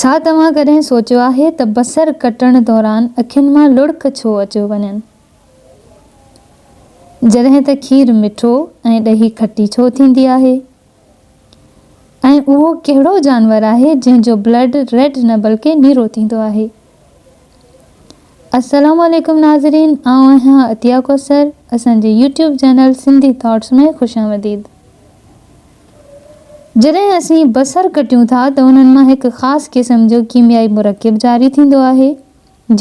ڇا توهان ڪڏهن سوچيو آهي ته بصر ڪٽڻ دوران اکين مان لڙڪ ڇو اچيو وڃن؟ جڏهن ته کير مٺو ۽ ڏهي کٽي ڇو ٿيندي آهي؟ ۽ اهو ڪهڙو جانور آهي جنهن جو بلڊ ريڊ نه بلڪه نيرو ٿيندو آهي؟ السلام عليڪم ناظرين آئون آهيان عطيه ڪوثر اسان جي يوٽيوب چينل سنڌي ٿاٽس ۾ خوش آمديد. جڏهن اسين بصر ڪٽيون ٿا ته انهن مان هڪ خاص قسم جو ڪيميائي مرڪب جاري ٿيندو آهي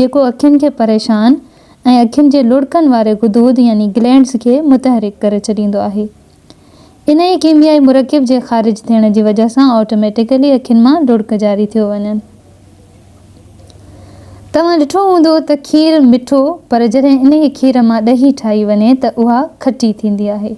جيڪو اکين کي پريشان ۽ اکين جي لڙڪن واري غدود يعني گلينڊز کي متحرڪ ڪري ڇڏيندو آهي انهيء ڪيميائي مرڪب جي خارج ٿيڻ جي وجهه سان آٽوميٽيڪلي اکين مان لڙڪ جاري ٿيو وڃن توهان ڏٺو هوندو ته کير مٺو پر جڏهن انهيء کير مان ڏهي ٺاهي وڃي ته اها کٽي ٿيندي آهي.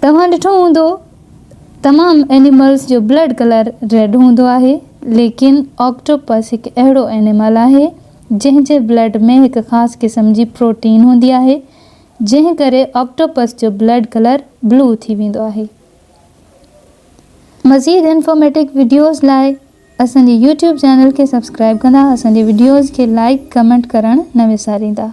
توهان ڏٺو هوندو تمام اينيملز جو بلڊ ڪلر ريڊ هوندو آهي ليڪن آڪٽوپس هڪ اهڙو اينيمل آهي جنهن جي بلڊ ۾ هڪ خاص قسم جي پروٽين هوندي آهي جنهن ڪري آڪٽوپس جو بلڊ ڪلر بلو ٿي ويندو آهي. مزيد انفارميٽڪ وڊيوز لاء اسان جي يوٽيوب چينل کي سبسڪرائب ڪندا اسان جي وڊيوز کي لائيڪ ڪمينٽ ڪرڻ نه وساريندا.